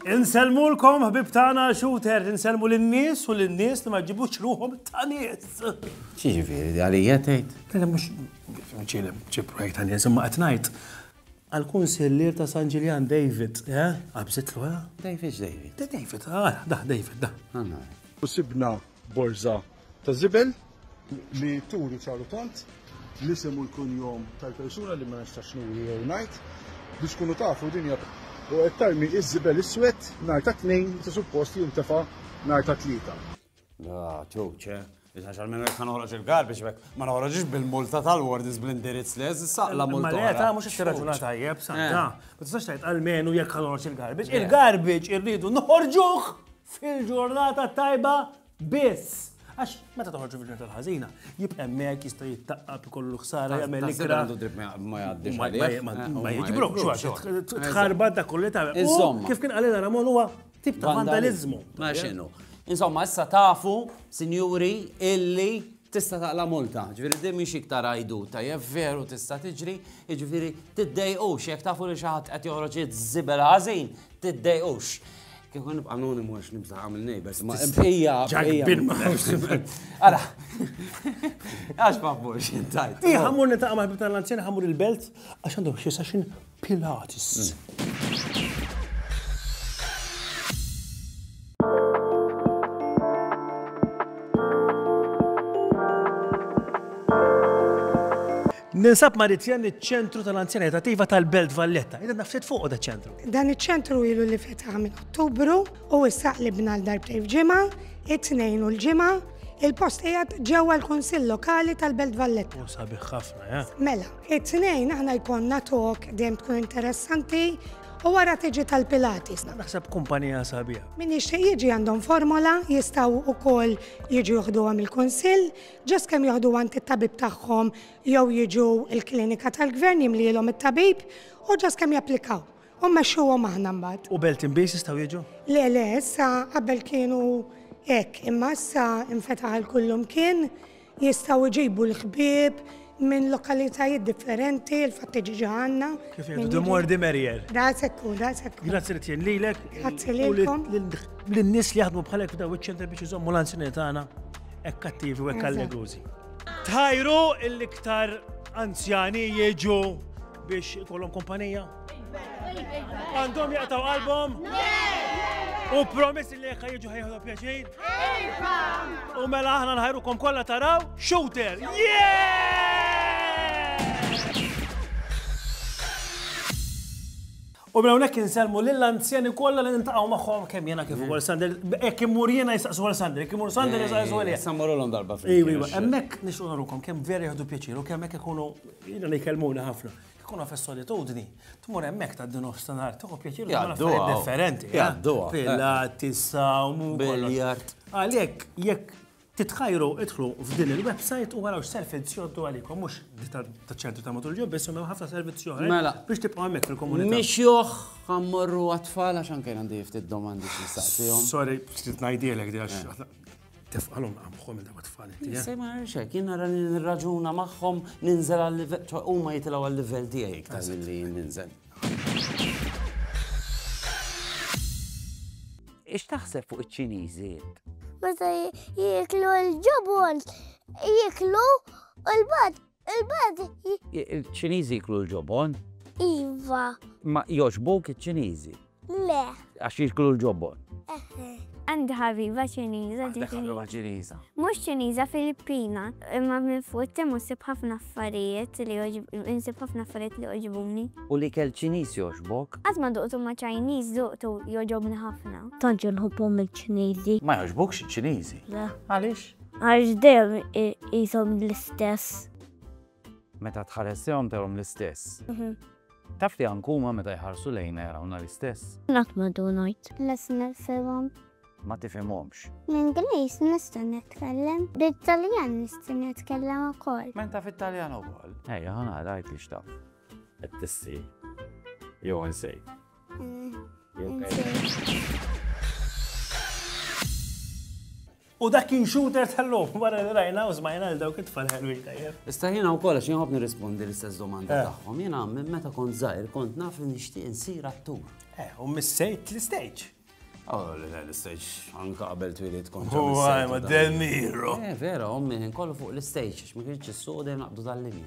Inselmulkom ħbib tagħna shooter, inselmu lin-nies u lin-nies li ma ġibux ruħhom ta' nies. Xi ġifieri għalija tgħid? Kellha mhux ċielem ċi projekt ta' nies imma qed ngħid Għall-Kunsillier ta' San Ġiljan David, eh? Qabżitlu, eh? David x'David? Da David, ah, dah David, dah. Għanna. U sibna borża ta' żibel li turi ċaru tont l-isem u l-kunjom tal-persuna li ma nistax nuri jew ngħid biex tkunu tafu din hija u qed tarmi ż-żibel iswed nhar tat-Tnejn meta suppost jintefa' nhar tat-Tlieta. Ah, ċuċe. Iżan xal minnu jekkan uħroġ il-garbix, bek ma noħroġix bil-multa tal-wardis bl-indirizz li jazz saqla multa. Ma l-għeta mux xirraġuna tajjeb, saqla. Eh. Ma tistax tajt għal-menu jekk uħroġ il-garbix. Eh. Il-garbix irridu noħorġuħ fil-ġurnata tajba biss. Għax, meta toħorġu fil ġurnata tal-ħazina, jibqa' mek jista' jittaqqab kollu ħsara jagħmel ikra. Ma jgħaddix Ma eh, jiġibrok, xi tħarbat dak kollu ta' Kif kien għalina Ramon huwa Tip ta' vandaliżmu. Ma x'inhu. Insomma, issa tafu, sinjuri, illi tista' taqla multa. Ġifieri din mhix iktar għajdu tajjeb veru tista' tiġri, jiġifieri tiddejqux jekk tafu li xi ħadd qed joħroġ żibel ħażin, tiddejqux. Kieku nibqa' anonim għax nibża' għamil neighbors, ma hija. Ġakbin ma Ara. Għax ma fux intajt. Ija ħammur nitaqma ħbib tal-anzjani ħammur il-belt għax għandhom xi session Pilates. Ninsab Maritjan iċ-ċentru tal-anzjaniet attiva tal-Belt Valletta. Ida nafsit fuq da ċentru. Dan iċ-ċentru ilu li fetaħ minn Ottubru u issa qlibna l-darbtej f'ġimgħa, it-tnejn u l-ġimgħa, il-post qiegħed ġewwa l-Kunsill Lokali tal-Belt Valletta. U sabiħ ħafna, ja. Mela, It-Tnejn aħna jkollna talk dejjem tkun interessanti u wara tiġi tal-Pilates. Naħseb kumpanija sabiħa. Min jixtieq jiġi għandhom formola, jistgħu wkoll jiġu joħduhom il-kunsill, ġast kemm joħdu għand it-tabib tagħhom jew jiġu l-klinika tal-gvern jimlielhom it-tabib u ġast kemm japplikaw. U mmexxuhom aħna mbagħad. U belt imbies jistgħu jiġu? Le, le, issa qabel kienu hekk, imma issa infetaħ għal kullum kien Jistgħu jġibu l-ħbieb minn lokalitajiet differenti, il-fatti ġiġa għandna. Kif jgħidu, the more the merrier. Daqshekk hu, daqshekk hu. Grazzi li tien lilek. Grazzi lilkom. Lin-nies li jaħdmu bħalek f'daw iċ-ċentri biex iżommu l-anzjani tagħna hekk kattivi u hekk allegużi. Tħajru l-iktar anzjani jiġu biex ikollhom kumpanija? Għandhom jaqtaw qalbhom? U promissi li jekk jiġu ħajħu pjaċin? Iva! U mela aħna nħajrukom kollha taraw shooter! U mela hawnhekk inselmu lill anzjani kollha li nintaqgħu magħhom kemm jiena kif ukoll Sander, hekk imur jiena jistaqsu għal Sander, hekk imur Sander jistaqsu għal jien. Sammarulhom darba fil. Iwa, iwa, hemmhekk nixtru narukom kemm vera jieħdu pjaċir u kemm hekk ikunu jiena li jkellmuni ħafna. Kieku naf is-solitudni, tmur hemmhekk tgħaddi nofsinhar, tieħu pjaċir li affarijiet differenti. Eh? Jgħadduha. Pilat, tisawmu. Biljart. Għalhekk jekk titħajru idħlu f'din il-website u għaraw servizzi joddu għalikom, mux ta' ċentru ta' matul ġo, biss unna ħafna servizzi oħra. Mela. Biex tibqaw hemmhekk fil-komunità. Mhix joħ għammorru għatfall għax anke għandi ftit domandi xi Sorry, ftit ngħidilek di għax eh. Tefqalhom qamħom il-darba tfal inti. Eh? Sej ma nirxek, jien nara li nirraġuna magħhom ninżel għal-livell, ċo huma jitilgħu għal-livell tiegħi iktar milli ninżel. Ix taħseb fuq iċ-Ċiniżi? Meta jieklu l-ġobon, jieklu u l-bad Il-belt hi. Il-Ċiniżi jiklu l-ġobon? Iva. Ma jogħġbuk iċ-Ċiniżi? Le. Għax jiklu l-ġobon? Eħe. Għandi ħabiba Ċiniża ġifieri. Għandek ħabiba Ċiniża. Mhux Ċiniża Filippina, imma minn fuq tim nsib ħafna affarijiet li nsib ħafna affarijiet li jogħġbuni. U li kell Ċiniż jogħġbok? Qatt ma duqtu ma' Ċiniż duqtu jogħġobni ħafna. Tant jinħobbhom il-Ċiniżi. Ma jogħġbukx iċ-Ċiniżi? Le. Għaliex? Għax dejjem qishom l-istess. Meta tħares lejhom tarahom l-istess. Taf li anke huma meta jħarsu lejna jarawna l-istess? Qatt ma dun ngħid. Lest nifhimhom. Ma tifhimhomx. L-Ingliż nista' nitkellem. Bit-Taljan nista' nitkellem ukoll. M'int taf it-Taljan ukoll? Ejja ħa nara għidli x'taf. Qed tissi jew insejt? Insejt. U dak kien shooter tal-lum, wara li rajna u smajna għal dawk it-tfal ħelwin tajjeb. Issa jiena wkoll għax jien nirrispondi l-istess domanda eh. tagħhom. Jiena minn meta kont żgħir kont naf li nixtieq insir attur. Eh, u missejt l-istage. Oh, l-istage, anka qabel twilit kont. U għajma Del Miro. Eh, vera, ommi, kollu fuq l-istage, ma kienx s-soda naqdu tal-linja.